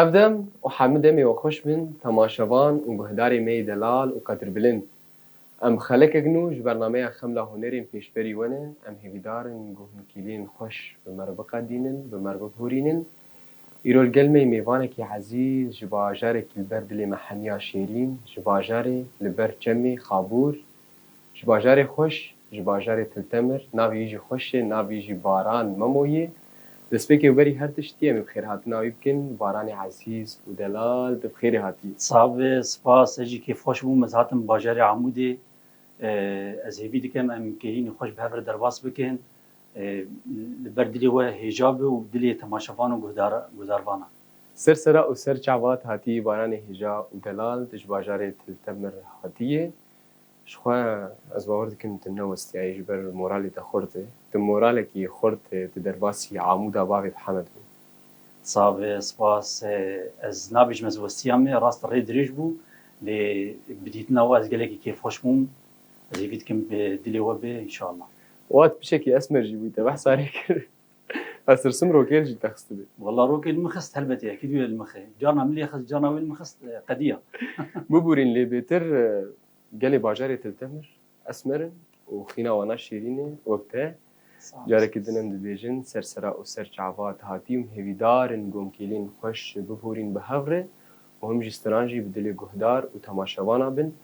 Ev dem û hemû demê we xweş bin temaşevan û guhdarê me yê delal û qedrbilind. Em xelekek nû ji bernameya Xemla Hunerên pêşberî we ne, em hêvîdar in ku hûn kîlên xweş bi me re biqedînin, bi me re bibûrînin. Îro li gel me yê mêvanekî ezîz ji bajarekî li ber dilê me heniya şêrîn, ji bajarê li ber çemê Xabûr, Ji bajarê xweş, ji bajarê Tiltemir, navê yî jî xweş e, navê yî jî Baran Memo yê. Destpêkê û berî her tiştî em ê bi xêrhatina wî bikin, Baranê ezîz û delal tu bi xêrê hatî. Sax be, spas, ez jî kêfxweş bûm, ez hatim bajarê Amûdê, ez hêvî dikim em kêlînê xweş bi hev re derbas bikin, li ber dilê we hêja be û dilê temaşevan û guhdarvanan. Ser sera û ser çavat hatî Baranê hêja û delal tu ji bajarê Tiltemir hatî yê, Ji xwe, Ez bawer dikim tu newestyayî ji ber moralê te xurt e. Tu moralekî xurt e, tu derbasî amûda bavê te Hemed bû. Sav, Spas. Ez nabêjim ez westiya me rast rê dirêj bû lê bi dîtina we ez gelekî kêfxweş bûm. Ez hêvî dikim dilê we bê înşallah. Wat piçekî esmer jî bû te behsa rê kir. Ez tirsim Rokel jî te xistibê. Wala Rokel min xist helbetê yekî dûye li mixê. Cana min lê xist, cana wê li min xist e, qedîya. Bibûrîn lê bêtir e, gelê bajarê Tiltemir, esmer in û xîna wana şêrîn e wek te. Carekî din em dibêjin Sersera û Serçava, Tihatî û Mhêvîdar in gomkêlên xweş bibûrîn bi hev re û him ji stran jî bi dilê guhdar û temaşevanan bin,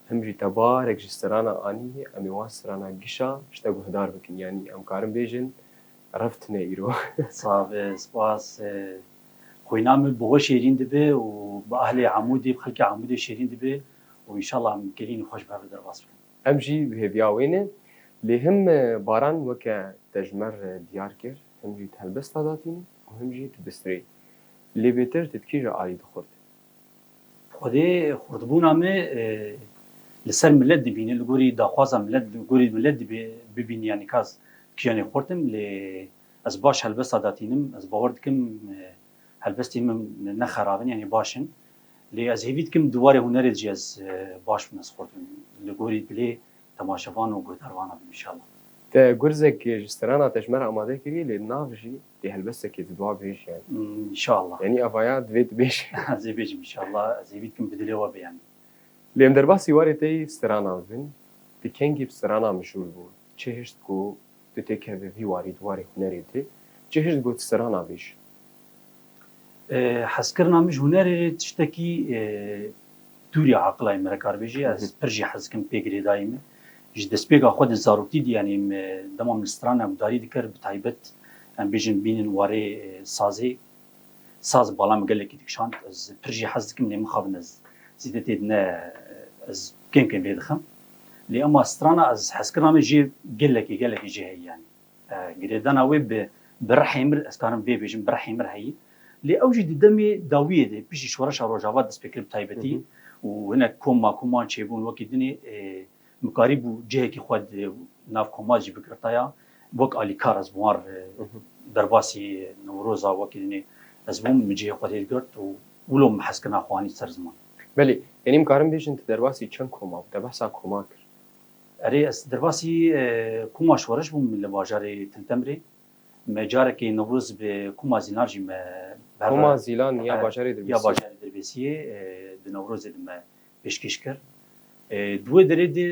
him jî tebarek ji stranan anîyê em ê wan stranan gişa şte guhdar bikin, yanî em karin bêjin rev tine îro. Save, spas. Xwîna min bi we şêrîn dibe û bi ahlê Amûdê, bi xelkê Amûdê şêrîn dibe û înşallah em gelînî xweş bi hev re derbas bikin. Em jî bi hêviya wê ne. Lê him Baran weke tejmer diyar kir, him jî di helbesta de hatîne û him jî di bistrê. Lê bêtir te bi kî re alî dixurt? Xwedê xurtbûna me li ser milet dibîne, li gorî daxwaza milet, li gorî milet dibê bibîne yanî ka ez kîjanê xurt im lê ez baş helbesta datînim, ez bawer dikim helbestên min ne xerab in yanî baş in lê ez hêvî dikim di warê hunerê de jî ez baş bim, ez xurt bim li gorî dilê temaşevan û guhdarvanan înşallah. Te gurzek ji strana Tejmera amade kiriye lê nav jî dê helbestekê di dua bêj yani. Înşallah. Yanî avaya divê tu bêj. Ez ê bêjim înşallah ez ê wî dikim bi dilê we be yanî. Lê em derbasî warê te yî stranan bin, ti kengî bi strana mijûl bû, çi hişt ku Tu tê kevî vî warî di warê hunerê de cihişt got serana bêj. Hezkirina min ji hunerê rê tiştekî dûrî eqilayê min re kar bêjî. Ez pir jî hez dikim pê girêdayî min. Ji destpêka xwe di zarokî de yanî dema min strana gudarî dikir bi taybet em bêjin bînin warê sazê Saz bi bala min gelekî dikişand. Ez pir jî hez dikim lê mixabin ez zêdetê di ne ez kêm kêm lê dixim. Lê ema strana ez hezkirina min jê gelekî gelekî jê heyî yanî girêdana wê bi bi rihê mir ez karim vê bêjim bi rihê mir heyî. Lê ew jî di demê dawiyê de piştî şoreşa rojavat destpêkir bi taybetî û hinek kom ma koman çêbûn wekî dinê Mikarîbû cihekî xwe di nav komar jî bigirtaya. Wek alîkar ez bi wan re derbasî Newroza wekî dinê ez bûm, min cihê xwe tê digirt û wilo min hez kirina xwe anî ser ziman. Belê, yanî min karim bêjin tu derbasî çend koma û te behsa koma kir? Erê, ez derbasî koma şoreş bûm li bajarê Tintemirê. Me carekê Newroz bi koma Zîlan jî me bi hev re. Koma Zîlan ya bajarê Dirbêsiyê? Ya bajarê Dirbêsiyê di Newrozê di me pêşkêş kir. Di wê derê de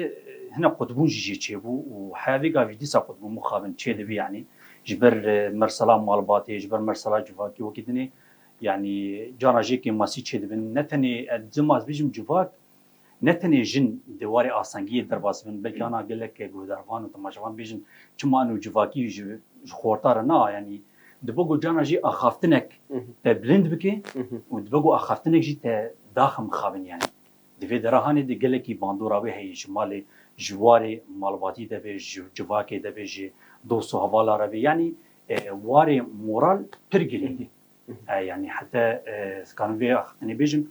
hinek qutbûn jî jê çêbû û heya vê gavê dîsa qutbûn mixabin çê dibî yanî ji ber mersala malbatê, ji ber mersala civakê wekî din ê yanî carna jê kêm masî çê dibin ne tenê ez dima ez bêjim civak ne tenê jin di warê asengiyê derbas bin belkî ana gelek guhdarvan û temaşevan bêjin çima eno civakî ji xorta re na yanî Dibe ku cana jî axaftinek te bilind bike û dibe ku axaftinek jî te daxim bixabin yanî. Di vê derahanê de gelekî bandora wê heye ji malê, ji warê malbatî de be, ji civakê de be, ji dost û hevala re be yanî warê moral pir girîng e. Yanî hete dikarim vê axaftinê bêjim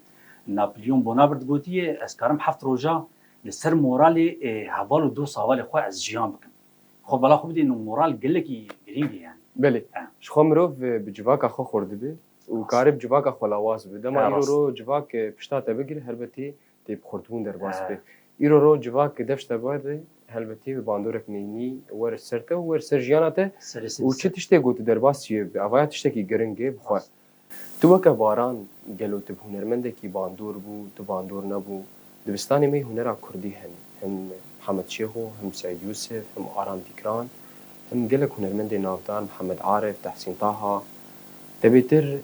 Napoleon Bonaparte gotiye ez karim heft roja li ser moralê heval û dost hevalê xwe ez jiyan bikim. Xwe bala xwe bidîn û moral gelekî girîng e yani. Belê. Ji xwe mirov bi civaka xwe xurt dibe û karê bi civaka xwe lawaz bibe. Dema Hera îro rast. ro civak pişta te bigire helbetî tê bi xurtbûn derbas be. Îro ro civak dev ji te bigere helbetî bi bandorek neyînî wer li ser te û wer li ser jiyana te Serê se û çi dise. tiştê ku tu derbas çiye bibe. Avaya tiştekî girîng e bi xwe. Rast. Tu weke Baran gelo tu bi hunermendekî bandor bû, tu bandor nebû. Dibistanê me hunera kurdî hene. Him Mihemed Şêxo, him Seîd Yûsif, him Aram Dîkran, him gelek hunermendê navdar, Mihemed Arif, Tehsîn Taha. Te bêtir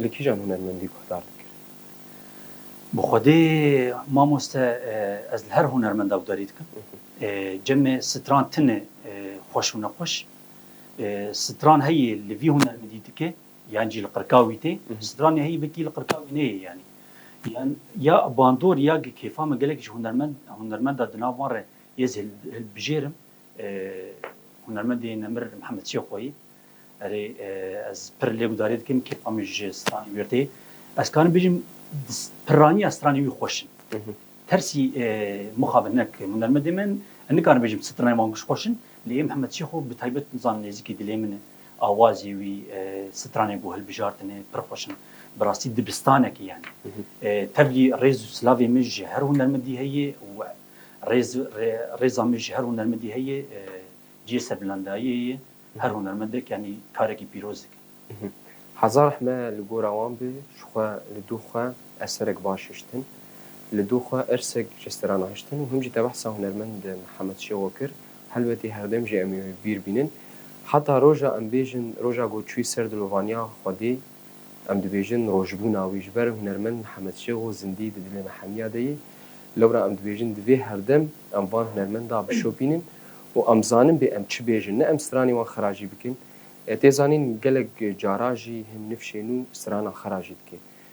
li kîjan hunermendî guhdar dikirî? Bi xwedê mamoste ez li her hunermenda gudarî dikim. Cemê stran tune xweş û nexweş. Stran heye li vî hunermendî dike. Yan jî li qirkawî tê. Stranê heyî bi kî li qirkawî neyê yanî. Yan ya bandor ya gi kêfa min gelek ji hunermend hunermenda di nav wan re yê ez hilbijêrim hunermendê Nemir Mihemed Şêxoyî. Erê ez pir lê gudarî dikim kêfa min ji stranê wî re tê. Ez karim bijîm pirraniya stranê wî xweş in. Tersî mixabin hinek hunermendê me in. Ez nikarim bijîm stranê wan giş xweş in. Lê yê Mihemed Şêxo bi taybet nizan nêzîkî dilê min e. awazê wî, stranên ku hilbijartine pir xweş in. Bi rastî dibistaneke yani. Tevlî rêz û silavê min ji her hunermedî heye û rêz rêza min ji her hunermedî heye cihê serbilandayiyê ye. Her hunermendek yanî karekî pîroz dike. Heza rehme li gora wan be, ji xwe li dû xwe eserek baş hiştin. Li dû xwe irsek ji strana hiştin û him jî te behsa hunermend Mihemed Şêxo kir Helbetî herdem jî em ê wê bîr bînin. Heta roja em bêjin roja ku çûy ser dilovaniya Xwedê em dibêjin rojbûna wî. Ji ber hunermend Mihemed Şêxo zindî di dilê me hemiya de yê. Lewra em dibêjin divê herdem em van hunermenda bişopînin û em zanin bê em çi bêjin. Ne em stranê wan xera jî bikin. Tê zanîn gelek cara jî hin nifşê nû strana xera jî dike.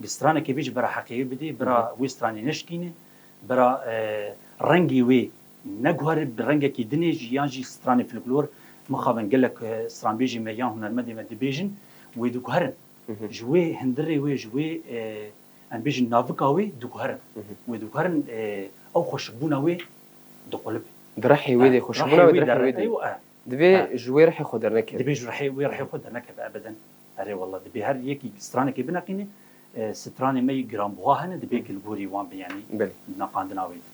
Bi stranekê vê ji bira heqê wê bidê, bira wê stranê neşikîne, bira rengê wê neguhere bi rengekî dinê jî yan jî stranê fluklor mixabin gelek stranbêjê me yan hunermendê me dibêjin wê diguherin. Ji wê hindirê wê ji wê em bêjin navika wê diguherin. Wê diguherin ew xweşikbûna wê diqulibin. Di rehê wê de xweşikbûna wê di rehê wê de ye. Divê ji wê rihê xwe dernekeve. Divê ji rihê wê rihê xwe dernekeve ebeden. Erê wela divê her yekî stranekê bineqîne. Stranê me yê giranbuha hene divê gilgorî wan be yanî di neqandina wê de.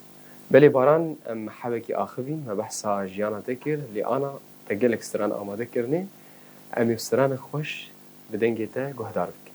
Belê Baran em hewekî axivîn me behsa jiyana te kir lê ana te gelek stran amade kirine. Em ê stranek xweş bi dengê te guhdar bikin.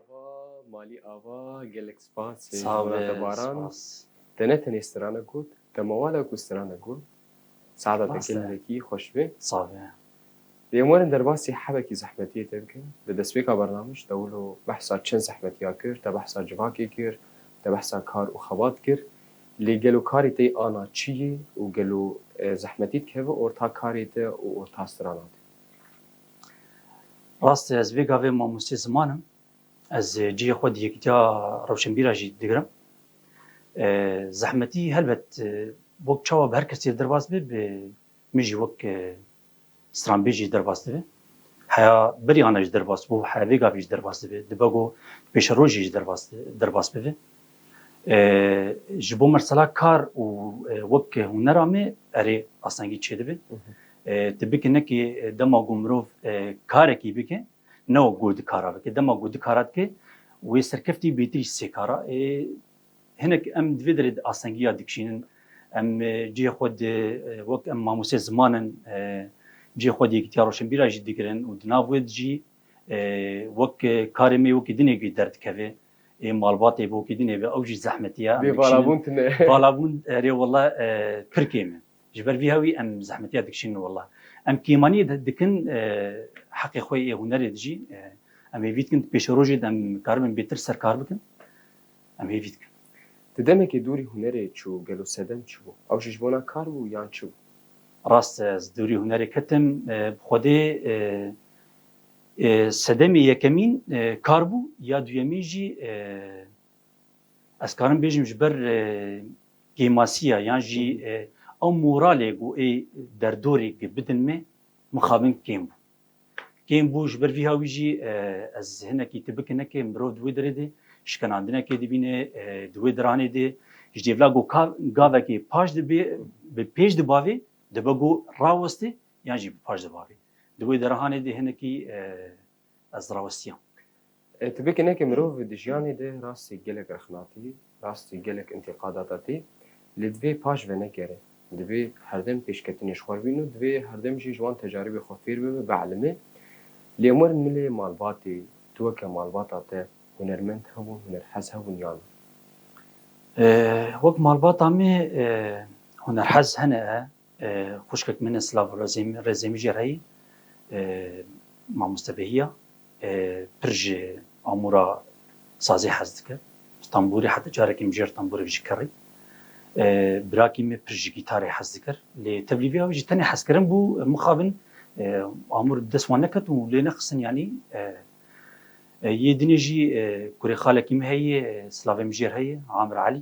Ava Malî Ava gelek spas ji wan te Baran. Te ne tenê strana got, te mawala ku strana got. Saeta te gelekî xweş be. Lê em werin derbasî hebekî zehmetiyê te bikin. Di destpêka bernamij te wilo behsa çend zehmetiya kir, te behsa civakê kir, te behsa kar û xebat kir. Lê gelo karê te yê ana çi yê û gelo zehmetî dikeve orta karê te û orta strana te? Rast e ez vê gavê mamostê ziman im. Ez cihê xwe di yekîtiya rewşenbîra jî digirim. Zehmetî helbet wek çawa bi her kesî re derbas be bi min jî wek stranbêjê derbas dibe. Heya berî ana jî derbas bû, heya vê gavê jî derbas dibe, dibe ku pêşerojê jî derbas bibe. Ji bo mesela kar û wek hûnera me erê asengî çêdibe. Tu bike nekê dema ku mirov karekî bike ne wek ku di kara bike. Dema ku di kara dike wê serkeftî bêtir jî sê kara. Hinek em di vê derê de asengiya dikişînin. Em cihê xwe di wek em mamosteyê ziman in cihê xwe di yekîtiya roşenbîra jî digirin û di nav wê de jî wek karê me wekî dinê ku derdikeve. ê malbatê bo kîdinê be ew jî zehmetî ye. Bê valabûn tune. Valabûn erê wela pir kêm e. Ji ber vî hewî em zehmetiya dikişînin wela. Em kêmanî dikin heqê xwe yê hunerê di jî em hêvî dikin di pêşerojê de em karibin bêtir ser kar bikin em hêvî dikin. Ti demekê dûrî hunerê çû gelo sedem çi bû? Ew jî ji bona kar bû yan çi bû? Rast e ez dûrî hunerê ketim bi xwedê Sedemê yekemîn kar bû ya duyemîn jî ez karim bêjim ji ber kêmasiya yan jî ew moralê ku ê derdorê ku bidin me mixabin kêm bû. Kêm bû ji ber vî ha wî jî ez hinekî tu bikine ke mirov di wê derê de şikenandinekê dibîne di wê diranê de ji dêvla ku ka gavekê paş dibê bi pêş dibavê dibe ku rawestê Yan jî bi paş de bavê. Di wê derahanê de hinekî ez dirawestiyam. Tu bê kenekê mirov di jiyanê de rastî gelek rexna tî, rastî gelek întiqadata tî lê divê paş venekere. Divê herdem pêşketinê ji xwe re bîn û divê herdem jî ji wan tecaribê xwe fêr bibe, bielime. Lê em werin milê malbatê, tu weke malbata te hunermend hebûn, hunerhez hebûn yan na? Wek malbata me hunerhez hene Xwişkek min e Silav Rezemî jî reyî mamostebehî ya. Pir ji amûra sazê hez dike. Ji tembûrê heta carekê mijêr tembûrek jî kirî. Birakî me pir ji gîtarê hez dikir. Lê tevlî vê avê jî tenê hezkirin bû. Mixabin amûr bi dest wan neketin û lê nexistin yanî. Yê dinê jî kurê xalekî min heye Silavê mijêr heye Amir Elî.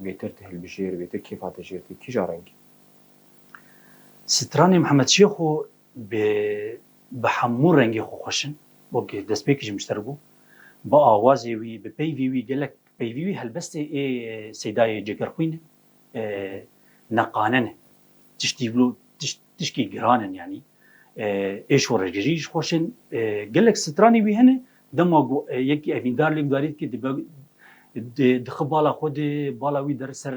Bêtir tu hilbijêr, bêtir kêfa te jêr tê, kîja rengî? Stranê Mihemed Şêxo bi bi hemû rengê xwe xweş in, weke destpêkî ji min ji te re bû. Bi awazê wî, bi peyvê wî gelek peyvî wî helbestê ê Seydayê Cegerxwîn e, neqanen e. Tiştî wilo tişt Tişkî giran in yanî êş û rêgirî ji xweş ên gelek stranî wî hene dema ku yekî evîndar lê gudarî dike dibe dixi bala xwe dê bala wî der ser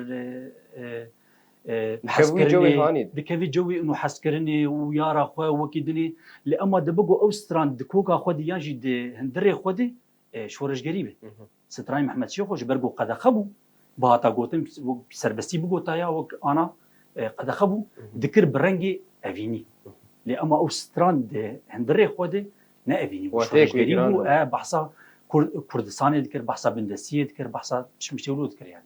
dikevî cewê û hezkirinê û yara xwe wekî dinê lê ema dibe ku ew stran di koka xwe dê yan jî di hundirê xwe dê şoreşgerî be. Strayî Mehmet Şêxo ji ber ku qedexe bû, bihata gotin wek serbestî bigota ya wek ana qedexe bû, dikir bi rengê evînî. Lê ema ew strand di hindirê xwe de ne evînî bû, şoreşgerî bû, behsa Kurdistanê dikir, behsa bindestiyê dikir, behsa çimin şewlo dikir yanî.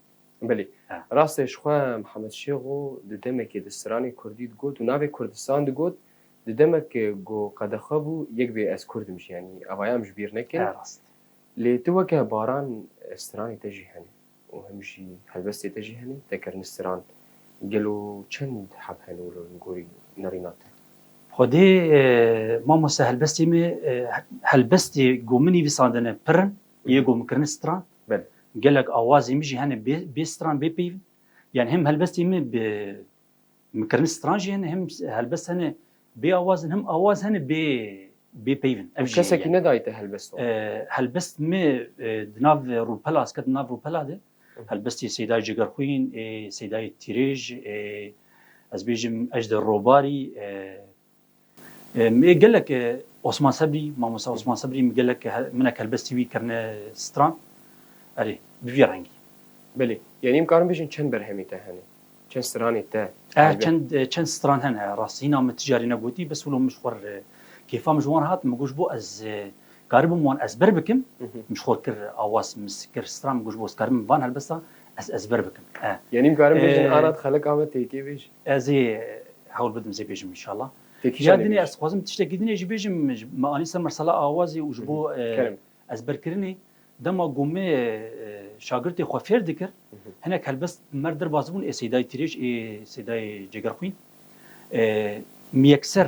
Belê. Rastê ji xwe Mehmet Şêxo di demekê di stranê Kurdî digot û navê Kurdistan digot, di demek ku qedexe bû, yek bê ez Kurd im jî yanî. Ev aya em ji bîr nekin. Lê tu weke Baran stranê te jî hene û him jî helbestê te jî hene te kirine stran. Gelo çend heb hene wilo li gorî nirîna te? Xwedê mamoste helbestê me helbestê ku min nivîsandine pir in yê ku min kirine stran. Gelek awazên min jî hene bê stran bê peyv in. Yanî him helbestê me bi Mikirin stran jî hene him helbest hene bê awaz in him awaz hene bê bê peyv in. Ev jî heye. Kesekî nedayî te helbest wan? Helbest me di nav rûpela ez ketim nav rûpela de helbestê Seyda Cîgerxwîn ê Seydayê Tîrêj ê ez bêjim Ejder Robarî Mi gelek Osman Sebrî, Mamosta Osman Sebrî mi gelek minek helbestî wî kirine stran. Erê, bi vî rengî. Belê. Yanî em karin bijin çend berhemî te hene? Çend stranê te? Eh, çend çend stran hene. Rastî hîna min ti carî negotî, bes wilo min ji xwe re kêfa min ji wan hat, min got ji bo ez karibim wan ezber bikim, min ji xwe kir awaz, min kir stran, min got ji bo ez karibim van helbesta ez ezber bikim. Eh. Yanî em karin bijin ana dixelek ame têkê bêj. Ez ê hewl bidim zê bêjim inşallah. Ya dinê ez dixwazim tiştekî dinê jî bêjim me anî ser mersala awazê û ji bo ezberkirinê dema ku me şagirtê xwe fêr dikir hinek helbest mer derbas bûn ê Seydayê Tirêj ê Seydayê Cegerxwîn miyekser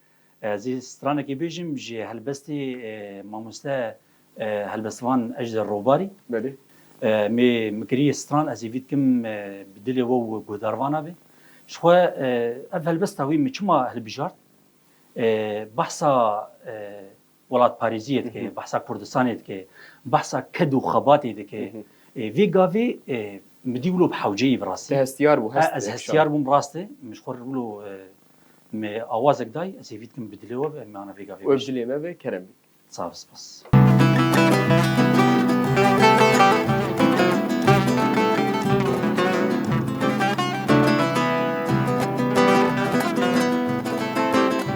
Ez ê stranekê bêjim ji helbestê mamoste helbestvan Ejder Robarî. Belê. Mê mikiriye stran ez ê vî dikim bi dilê we û guhdarvana be. Ji xwe ev helbesta wî min çima hilbijart? Behsa Welatparêziyê dike, behsa Kurdistanê dike, behsa ked û xebatê dike. Vê gavê min dî wilo bi hewceyî bi rastî. Te hestiyar bû? Hest. Ez hestiyar bûm rast e. Min ji xwe re wilo me awazek day. Ez hêvî dikim bi dilê we be em ana vê gavê bêjin. We bi dilê me be kerem bî. Sağ ol spas.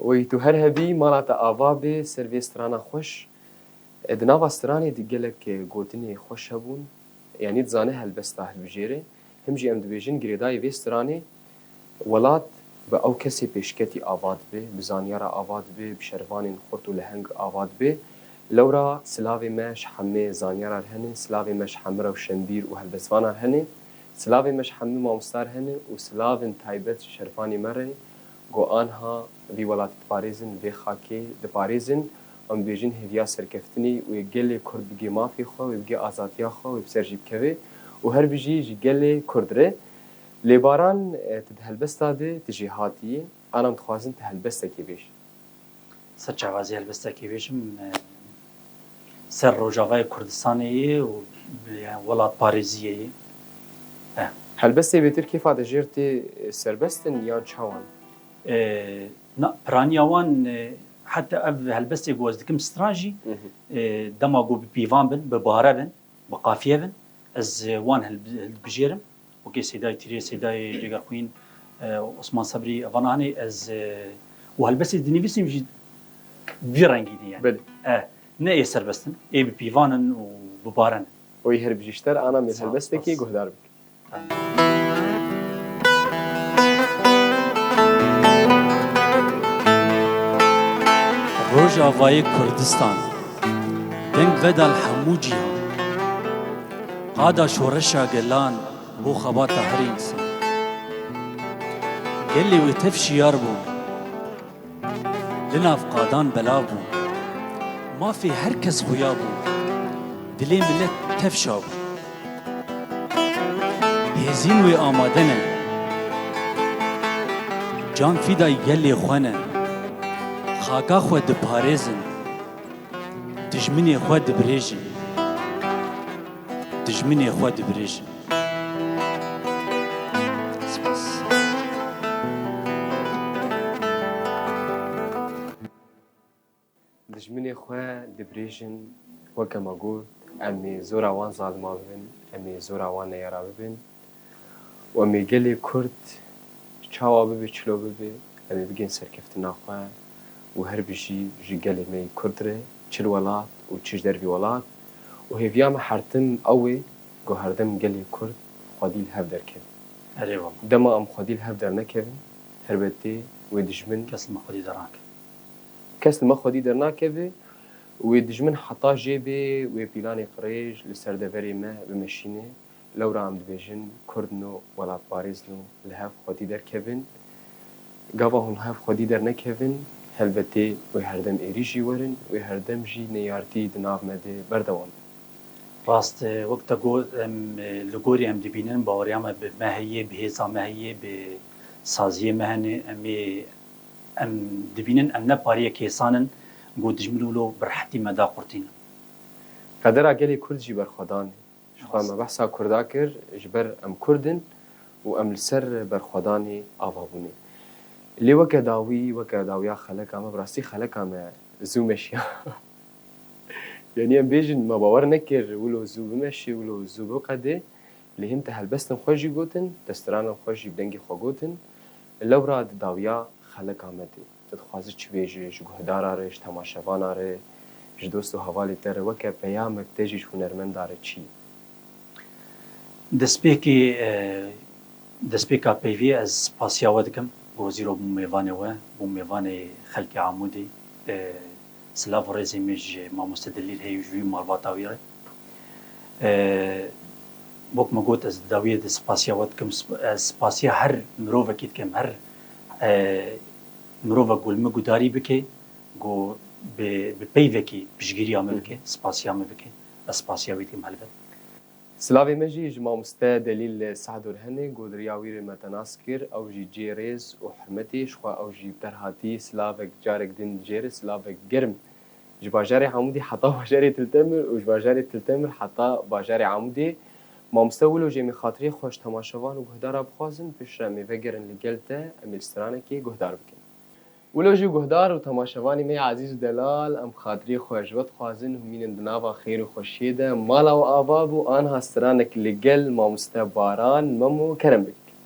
Oy tu her hebî mala te ava bê ser vê strana xweş. Di nava stranê de gelek gotinê xweş hebûn. Yanî dizane helbesta hilbijêrê. Him jî em dibêjin girêdayî vê stranê welat bi ew kesê pêşketî ava dibe, bi zanyara ava dibe, bi şervanên xurt û leheng ava dibe. Lewra silavê me ji hemê zanyara re hene, silavê me ji hemê rewşenbîr û helbestvanan re hene, silavê me ji hemê mamosta re hene û silavên taybet ji şervanê me re Ku anha vî welatî diparêzin, vê xakê diparêzin, em dibêjin hêviya serkeftinê û yê gelê Kurd bigê mafê xwe, wê bigê azadiya xwe, wê bi ser jî bikevê û her bijî ji gelê Kurd re. Lê Baran, tu di helbesta de, tu jêhatî yî, anam dixwazin tu helbestekê bêj. Ser çavazê helbestekê bêjim ser Rojavayê Kurdistanê yê û yani welatparêziyê yê. Eh. Helbestê bêtir kêfa de jêr tê serbest in yan çawan? Na, piraniya wan heta ev helbestê ku ez dikim stran jî dema ku bi pîvan bin, bi bare bin, bi qafiye bin ez wan hilbijêrim. Wekî Sêdayê Tîrê, Sêdayê Cêgerxwîn, Osman Sebrî van anê ez û helbestê dinivîsîm jî vî rengî din yani. E ne ê serbest in, ê bipîvan in û bibarin. Oy her bijî ji te re ana mêr helbestekê guhdar bike. Rojavayê Kurdistan deng vedal hemû cîhan. Qada şoreşa gelan bû xebata her însan. Gelê wê tev şiyar bû. Li nav qadan belav bû. Mafê her kes xuya bû. Dilê milet tev şa bû. Hêzîn wê amade ne. Can fîday gelê xwe ne. Xaka xwe diparêzin. Dijminê xwe dibirêjin. Dijminê xwe dibirêjin. Dijminê xwe dibirêjin weke me got em ê zora wan zaliman bibin, em ê zora wan neyara bibin. Wemê gelê Kurd çawa bibe çilo bibe em ê bigên serkeftina xwe û her bijî ji gelê me yê Kurd re çi li welat û çi ji dervî welat û hêviya me hertim ew ê ku herdem gelê Kurd xwedî li hev derkeve. Erê wala. Dema em xwedî li hev dernekevin helbetê wê dijmin. Kes li me xwedî dernakeve. Kes li me xwedî dernakeve û wê dijmin heta jê bê wê pîlanê qirêj li ser deverê me bimeşîne Lewra em dibêjin Kurd no welatparêz no li hev xwedî derkevin. Gava hûn li hev xwedî dernekevin helbetê wê herdem êrî jî werin, wê herdem jî neyartî di nav me de berdewam be. Rast e, wek te got em li gorî em dibînin baweriya me bi me heye, bi hêza me heye, bi saziyê me hene. Em ê em dibînin em ne pariyê kêsan in ku dijmin wilo bi rehetî me daqurtînin. Qedera gelê Kurd jî berxwedan e. Ji xwe me behsa Kurda kir ji ber em Kurd in û em li ser berxwedanê ava bûne. Lê weke dawî, weke dawiya xeleka me, bi rastî xeleka me zû meşiya. Yanî em bêjin me bawer nekir wilo zû bimeşê, wilo zû biqedê. Lê hin te helbestên xwe jî gotin, destiranan xwe jî bi dengê xwe gotin. Lewra di dawiya xeleka me de. Tu dixwazî çi bê ji guhdaran re, ji temaşevanan re, ji dost û hevalên te re weke peyamek tê jî ji hunermendan re çi ye? Destpêkê destpêka peyvê ez spasiya we dikim bi wezîro bi mêvanê we, bo mêvanê xelkê Amûdê. Silav û rêzên me ji mamoste Delîl heye û ji wî malbata wî re. Wek me got ez di dawiyê de spasiya we dikim. Ez spasiya her mirovekî dikim, her mirova ku li min gudarî bike ku bi peyvekî piştgîriya min bike, spasiya min bike, ez spasiya wî dikim helbet. Silavê me jî ji mamoste Delîl Sehdur hene ku diriya wî re me te nas kir, ew jî cihê rêz û hurmetê ji xwe ew jî bi ter hatî silavek carek din dijêre silavek germ Ji bajarê Amûdê heta bajarê Tiltemir û ji bajarê Tiltemir heta bajarê Amûdê. Mamoste Wilo jê min xatirê xwe ji temaşevan û guhdara bixwazin piştre em ê vegerin li gel te em ê li stranekê guhdar bikin. Wilo jî guhdar û temaşevanê me ya ezîz û delal em xatirê xwe ji we dixwazin hûn mînin di nava xêr û xweşiyê de mala we ava bû anha stranek li gel mamoste Baran, Memo, Kerem bikin.